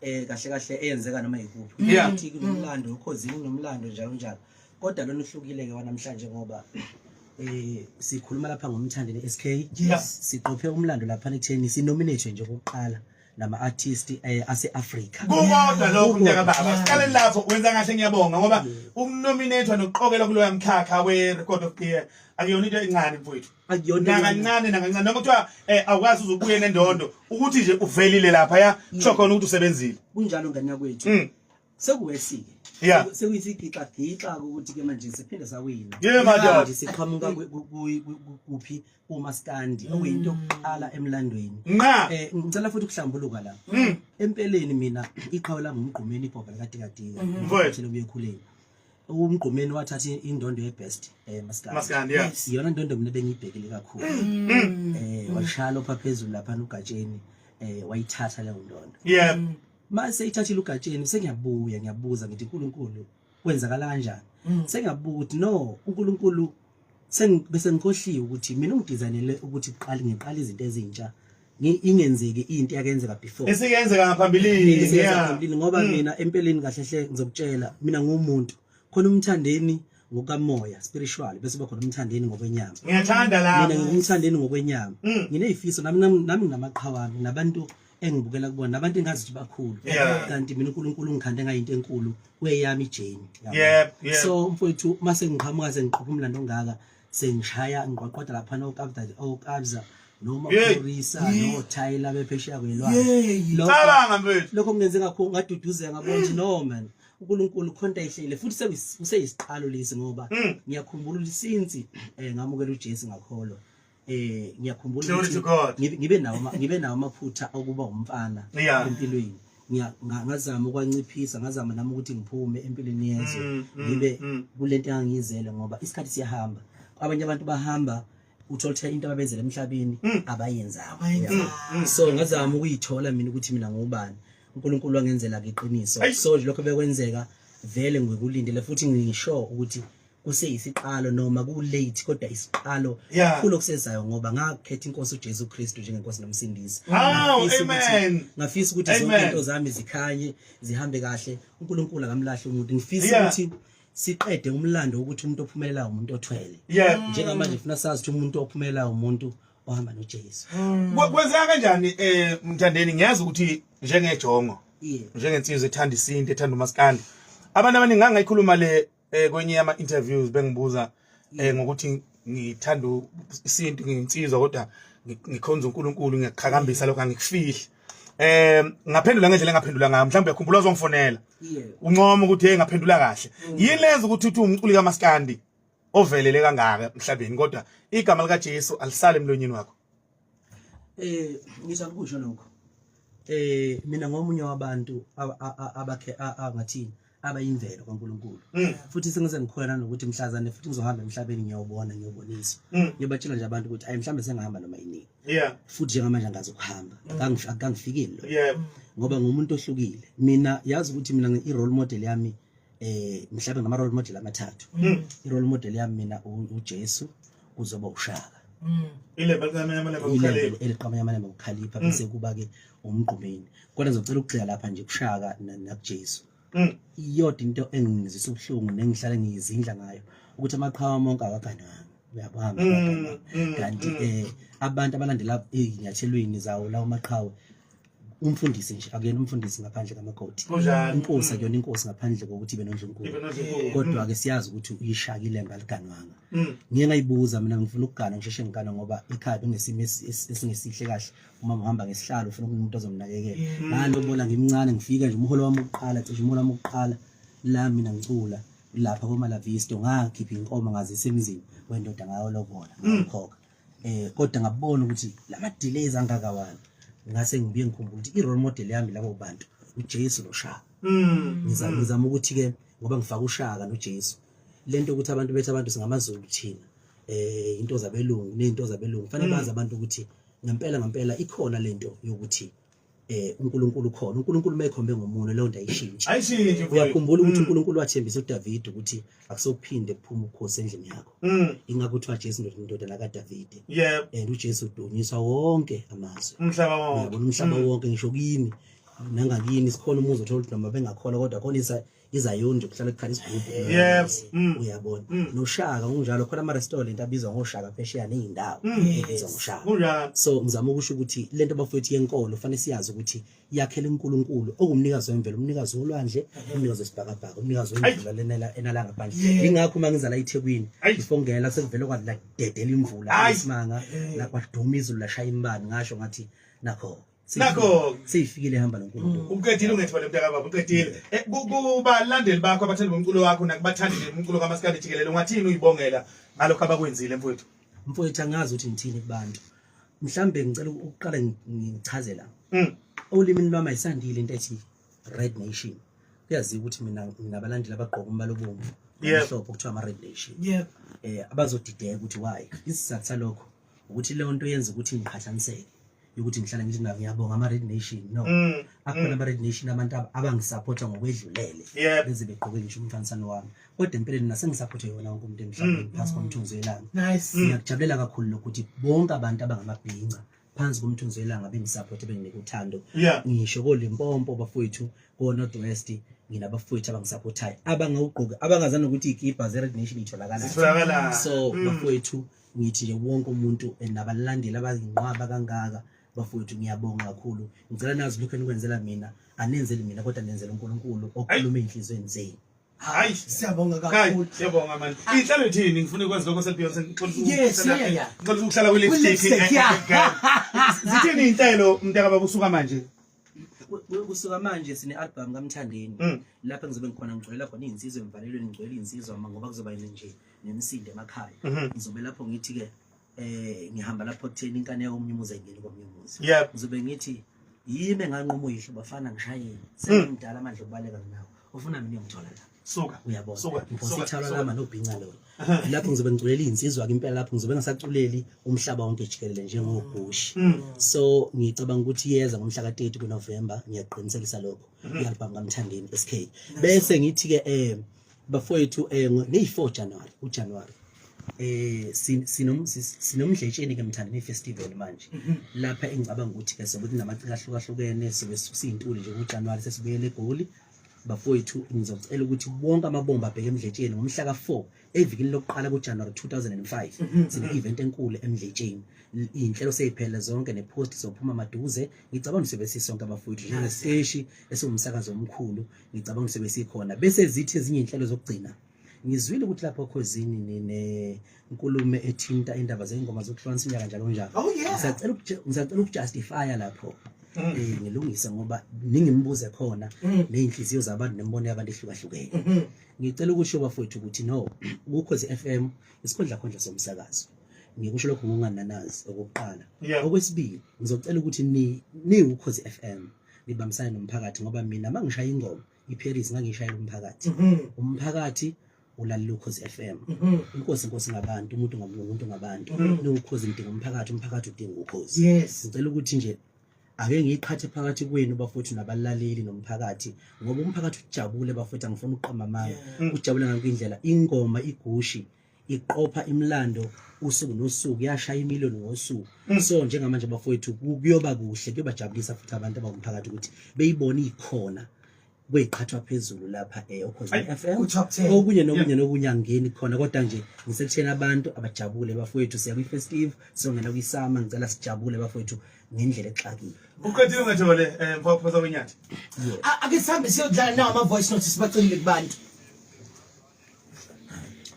eh kahle kahle eyenzeka noma yikuphi Yeah. ukuthi kunomlando ukhozini nomlando njalo njalo kodwa lona uhlukile ke wanamhlanje ngoba eh sikhuluma lapha ngomthandi ne-SK Yes. siqophe umlando lapha ekutheni sinominate nje okokuqala nama artist eh ase-Africa kukodwa lokhu mntaka baba siqale lapho wenza kahle ngiyabonga ngoba ukunominethwa nokuqokelwa kuloya mkhakha we-record of the year akuyona into encane mfowethu nakancane nakancane noma kuthiwa eh awukwazi uzobuye nendondo ukuthi nje uvelile lapha ya kusho khona ukuthi usebenzile kunjalo ngane yakwethu mm. sekuwesike yeah sekuyisigixa gixa ukuthi ke manje siphinde sawina yeah manje siqhamuka kuphi uma standi mm. okuyinto yokuqala emlandweni eh ngicela futhi ukuhlambuluka la mm. empeleni mina iqhawe lami umgqumeni ibhoba likadikadika ngithele mm-hmm. kuyekhuleni umgqumeni wathatha indondo yebest eh maskandi iyona ndondo mina bengiyibhekile kakhulu mm. Mm. eh washaya lopha phezulu lapha ugatsheni eh wayithatha leyo ndondo yeah mm. mase ithathile ugatsheni sengiyabuya ngiyabuza ngithi uNkulunkulu kwenzakala kanjani sengiyabuka ukuthi no uNkulunkulu bese ngikhohliwe ukuthi mina ungidizanele ukuthi uqale ngiqale izinto ezintsha ingenzeki into yakenzeka before esikenzeka ngaphambilini ngaphambilini ngoba hmm. mina empeleni kahle hle ngizokutshela mina ngumuntu khona umthandeni ngokamoya spiritual bese bakhona umthandeni ngokwenyama ngiyathanda la mina ngumthandeni ngokwenyama hmm. nginezifiso nami nami ngamaqhawami nabantu engibukela kubona nabantu engazi ukuthi bakhulu kanti mina uNkulunkulu ungikhande ngayinto enkulu kweyami ijeni so mfowethu mase ngiqhamuka sengiqhopha umlando ongaka sengishaya ngiqwaqwada laphana okabda okabza noma ukurisa no thayila bephesheya kwelwazi cabanga mfethu lokho kungenze ngakho ngaduduzeka ngabona nje no man uNkulunkulu khonta ihlele futhi kuseyisiqalo lesi ngoba hmm. ngiyakhumbula lisinsi eh, ngamukela uJesu ngakholwa eh ngiyakhumbula ukuthi ngibe nawo ngibe nawo amaphutha okuba umfana empilweni ngazama ukwanciphisa ngazama nami ukuthi ngiphume empilweni yezwe mm, mm, ngibe mm. kule nto engangiyizele ngoba isikhathi siyahamba abanye abantu bahamba uthola ukuthi into ababenzela emhlabeni abayenzanga so ngazama ukuyithola mina ukuthi mina ngubani uNkulunkulu wangenzela iqiniso so lokho bekwenzeka vele ngikulindele futhi ngisho ukuthi kuseyisiqalo noma kulate kodwa isiqalo kulo kusezayo ngoba ngakhetha inkosi uJesu Kristu njengenkosi nomsindisi ngafisa ukuthi zonke into zami zikhanye zihambe kahle uNkulunkulu akamlahle umuntu ngifisa ukuthi siqede umlando ukuthi umuntu ophumelelayo umuntu othwele njengamanje ngifuna sazi ukuthi umuntu ophumelelayo umuntu ohamba noJesu hmm. kwenzeka kanjani eh mthandeni ngiyazi ukuthi njengejongo njengensizwe ethanda isinto ethanda umaskandi abantu abaningi angayikhuluma le eh kwenye yama interviews bengibuza eh mm. ngokuthi ngithanda isintu nginsizwa kodwa ngikhonza uNkulunkulu ngiyaqhakambisa lokho angikufihli eh ngaphendula ngendlela engaphendula ngayo mhlawumbe yakhumbula uzongifonela uncoma ukuthi hey ngaphendula kahle mm. yini lenza ukuthi uthi umculi kamaskandi ovelele kangaka emhlabeni kodwa igama lika Jesu alisale emlonyeni wakho eh ngisa kusho lokho eh mina ngomunye wabantu abakhe angathini abayimvelo kaNkuluNkulu hmm. futhi sengize ngikhona nokuthi mhlazane futhi ngizohamba emhlabeni ngiyobona ngiyobonisa hmm. ngiyobatshela nje abantu ukuthi ayi mhlambe sengihamba noma yini yeah futhi njengamanje angazi ukuhamba hmm. akangifikile lo yeah ngoba ngumuntu ohlukile mina yazi ukuthi mina i role model yami eh mhlawumbe ngama role model amathathu i role model yami mina uJesu kuzoba ushaka mm. ilebhe eliqamanya amalembe ukukhalipha mm. bese kuba-ke umgqumeni kodwa ngizocela ukugxila lapha nje kushaka nakujesu mm. iyodwa into engizisa ubuhlungu nengihlale ngiyizindla ngayo ukuthi amaqhawa monke akaganwanga uyabona kanti um abantu abalandela ezinyathelweni zawo lawo maqhawe umfundisi nje akuyena umfundisi ngaphandle kamakoti inkosi akuyona inkosi ngaphandle kokuthi ibe nondlunkulu kodwa-ke siyazi ukuthi uyishaka ilembe aliganwanga mm. ngiye ngayibuza mina ngifuna ukugana ngisheshe ngigana ngoba ekhaya bengesimo esingesihle kahle uma ngihamba ngesihlalo ufuna ukuthi umuntu azomnakekela mm. ngalo bona ngimncane ngifika nje umholo wami ukuqala cishe umholo wami ukuqala la mina ngicula lapha komalavisto ngakhipha inkomo ngazisa emzini wendoda ngayo lobola mm. ngakhokha eh kodwa ngabona ukuthi lama delays angaka wani ngase ngibuye ngikhumbula ukuthi i-role model yami labo bantu uJesu noShaka mm. ngizama mm. ngizama ukuthi ke ngoba ngifaka uShaka noJesu lento ukuthi abantu bethu abantu singamaZulu thina eh into zabelungu nezinto zabelungu fanele mm. bazi abantu ukuthi ngempela ngempela ikhona lento yokuthi eh uNkulunkulu ukhona uNkulunkulu mayekhombe ngomuntu leyo nto ayishintshe ayishintshe uyakhumbula ukuthi mm. uNkulunkulu wathembisa uDavid ukuthi akusokuphinde kuphuma ukhosi endlini yakho mm. ingakho kuthiwa Jesu ndodana kaDavid yebo and uJesu udunyiswa wonke amazwi umhlaba wonke umhlaba mm. wonke ngisho kini nangakini sikhona umuzi othola ukuthi noma bengakholwa kodwa khona iZayoni nje kuhlale kukhala isigubhu yes mm. uyabona mm. noshaka unjalo khona ama restaurant abizwa ngoshaka phesheya nezindawo mm. ebizwa ngoshaka unjalo so ngizama ukusho ukuthi lento bafowethu yenkolo fanele siyazi ukuthi yakhela uNkulunkulu okumnikazi wemvelo umnikazi wolwandle umnikazi wesibhakabhaka umnikazi wemvula lenela enalanga phandle ingakho uma ngizala eThekwini ngifongela sekuvele kwathi la dedela imvula isimanga la kwaduma izulu lashaya imbani ngasho ngathi nakho nakho seyifikile ehamba noNkulunkulu mm. uqedile ungethole mntaka baba uqedile eh, kubalandeli bakho abathanda umculo wakho nakubathandile umculo kamaskandi jikelele ungathini uyibongela ngalokho abakwenzile mfowethu mfowethu angazi ukuthi ngithini kubantu mhlambe ngicela ukuqala ngichazela mm. olimini lwami ayisandile into ethi red nation kuyaziwa ukuthi mina nginabalandeli abagqoka umbala obomvu amhlophe okuthiwa ama-red nation um abazodideka ukuthi why isizathu salokho ukuthi leyo nto yenza ukuthi ngiqhathaniseke yokuthi ngihlala ngithi nabo ngiyabonga ama-red nation no mm, akhona mm. ama-red nation abantu abangisaphotha ngokwedlulele beze begqoke ngisho umfanisano wami kodwa empeleni nasengisaphothe yona wonke umuntu emhlabeni mm, phasi komthunzi welanga ngiyakujabulela kakhulu lokuthi bonke abantu abangamabhinca phansi komthunzi welanga bengisaphothe benginike uthando ngisho kolimpompo bafowethu ko-north west nginabafowethu abangisaphothayo abangawugqoki abangazani nokuthi ikibha ze-red nation itholakala so bafowethu mm. ngithi nje wonke umuntu eh, nabalandeli abazinqwaba kangaka bafowethu ngiyabonga kakhulu ngicela nazi lokho enikwenzela mina anenzeli mina kodwa nenzela uNkulunkulu okhuluma enhlizweni zenu hayi siyabonga kakhulu siyabonga manje ah. inhlalo ithini ngifuna ukwazi lokho seBeyonce ngixolisa ukuhlala kwi lipstick zithini inhlelo mntaka bakusuka manje kusuka manje sine-albhamu kamthandeni mm. lapho engizobe ngikhona ngigcwelela khona iy'nsizwa emvalelweni ngigcwele iy'nsizwa ma ngoba kuzoba yini nje nemisindo emakhaya mm-hmm. ngizobe lapho ngithi-ke um ngihamba lapho kutheni inkane yomunye umuzi ayingeni komunye umuzi ngizobe ngithi yimi enganquma uyihlo bafana ngishayeni mm. sengimdala amandla okubaleka nginawo ufuna mina uyongithola lapho suka uyabona suka ngosithalwa lama nobhinca lo lapho ngizobe ngiculela izinsizwa ke impela lapho ngizobe ngasaculeli umhlaba wonke jikelele njengobhushi mm. so ngicabanga ukuthi yeza ngomhla ka 30 ku November ngiyaqinisekisa lokho mm-hmm. i-album kaMthandeni SK bese ngithi ke eh bafowethu eh ngeyi 4 January u January eh sinomdletsheni ke mthandeni festival manje mhm. lapha engicabanga ukuthi ke sokuthi namaciko ahlukahlukene sobe sisintuli nje kuJanuary sesibuyele eGoli bafowethu ngizocela ukuthi bonke amabomba abheke emdletsheni ngomhla ka-4 evikini lokuqala kujanuwari 2005 mhm. sine-event enkulu emdletsheni iy'nhlelo seyiphelele zonke ne-post sophuma maduze ngicabanga ukuthi sobe sisonke abafowethu njengesiteshi esiwumsakazi omkhulu ngicabanga ukuthi sobe sikhona bese zithi ezinye iy'nhlelo zokugcina ngizwile ukuthi lapho khozini nine nkulume ethinta indaba zengoma zokuhlonisa inyaka njalo njalo oh, ngisacela ngisacela ukujustify lapho mm. eh ngilungise ngoba ningimbuze khona mm. nezinhliziyo zabantu nembono yabantu ehlukahlukene mm-hmm. ngicela ukusho bafowethu ukuthi no ukhozi FM isikhundla khondla somsakazo ngikusho lokho ngokungananazi okokuqala okwesibili ngizocela ukuthi ni ni ukhozi FM nibambisane nomphakathi ngoba mina mangishaya ingoma iParis ngangishayela umphakathi mhm. umphakathi ulalela ukhozi FM mhm. inkosi inkosi ngabantu umuntu ngamuntu ngabantu mhm. nokhozi ngidinga umphakathi umphakathi udinga ukhozi yes ngicela ukuthi nje ake ngiyiqhathe phakathi kwenu bafowethu nabalaleli nomphakathi ngoba umphakathi ujabule bafowethu angifuni ukuqamba amanga ujabule ngakho indlela ingoma igushi iqopha imlando usuku nosuku yashaya imiliyoni ngosuku mm. so njengamanje bafowethu kuyoba kuhle kuyobajabulisa futhi abantu abangumphakathi ukuthi beyibone ikhona kweyiqhathwa phezulu lapha eh okhosini FM okunye nokunye nokunye angeni khona kodwa nje ngisekuthena abantu abajabule bafowethu siya kwi festive songena kwi summer ngicela sijabule bafowethu ngendlela exakile uqedile ngathole eh mfaphoza wenyathi ake sihambe siyodlala nawo ama voice notes sibacele kubantu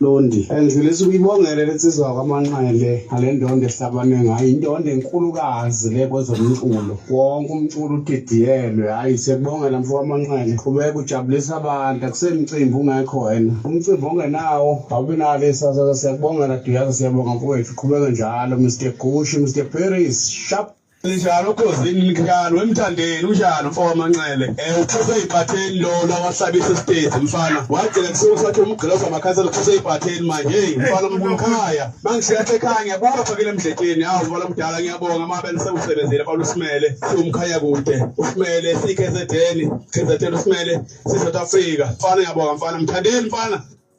londi ngifisa ukuyibongele lensizwa kwamanqele ngale ndondo ehlabane ngayo indondo enkulukazi le kwezomculo wonke umculo udidiyelwe hhayi siyakubongela mfo kwamanqele qhubeka ujabulisa abantu akusemcimbi ungekho wena umcimbi ongenawo awubi nalo isasa siyakubongela duyaza siyabonga mfowethu qhubeke njalo mr gushi mr paris sharp Linjalo ukhozini linjalo wemthandeni unjalo mfo wamanxele eh uphose ibhatheni lo lawahlabisa istage mfana wagcina kusukusathi umgqiloza amakhansela uphose ibhatheni manje hey mfana umkhaya mangishiya ekhaya ngiyabuka phakile emdletsheni hawu mfana omdala ngiyabonga mabe nisewusebenzile mfana usimele siwumkhaya kude usimele sikhe zedeni khe zedeni usimele si South Africa mfana ngiyabonga mfana mthandeni mfana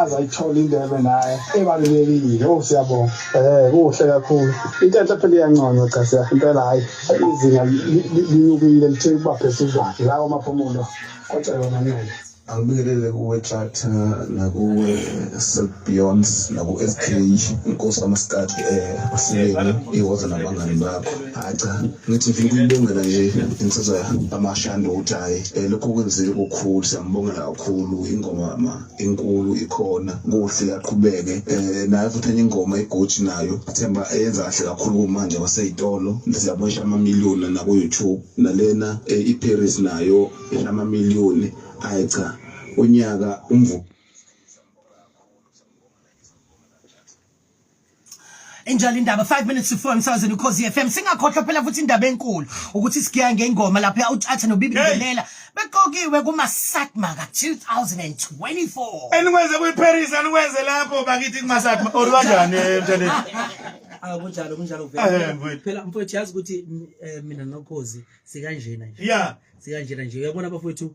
aze ayithole indebe naye ebalulekile o siyabonga um kuhle kakhulu into enhle phela iyanconywa cha siya impela hhayi izinga linyukile lithe ukuba phezudlwane la kwamaphumulo kwacelwa mancele angibingelele kuwe tractor nakuwe sebeyond naku-s k inkosi kamasikati um eh, asileni iwoza nabangani bakho hayi cha ngithi ngifuna ukuyibongela nje insizwa amashandu ukuthi hhayi um lokhu kwenzile kukhulu siyambongela kakhulu ingoma ma enkulu ikhona kuhle aqhubeke um naye futhi enye ingoma igoji nayo themba eyenza kahle kakhulu kumanje kwaseyitolo siyabona isha amamiliyoni naku-youtube nalena um iparis nayo isha amamiliyoni ayi cha unyaka umvuka enjalo indaba 5 minutes to 4 emsakazweni ukhozi FM singakhohlwa phela futhi indaba enkulu ukuthi sigiya ngengoma lapha utshatha nobibi ngelela beqokiwe kuma Satma ka 2024 enikwenze kuyi Paris anikwenze lapho bakithi kuma Satma or kanjani emntaneni Ah kunjalo kunjalo vele phela mfowethu yazi ukuthi eh, mina nokhozi sikanjena nje yeah sikanjena nje uyabona bafowethu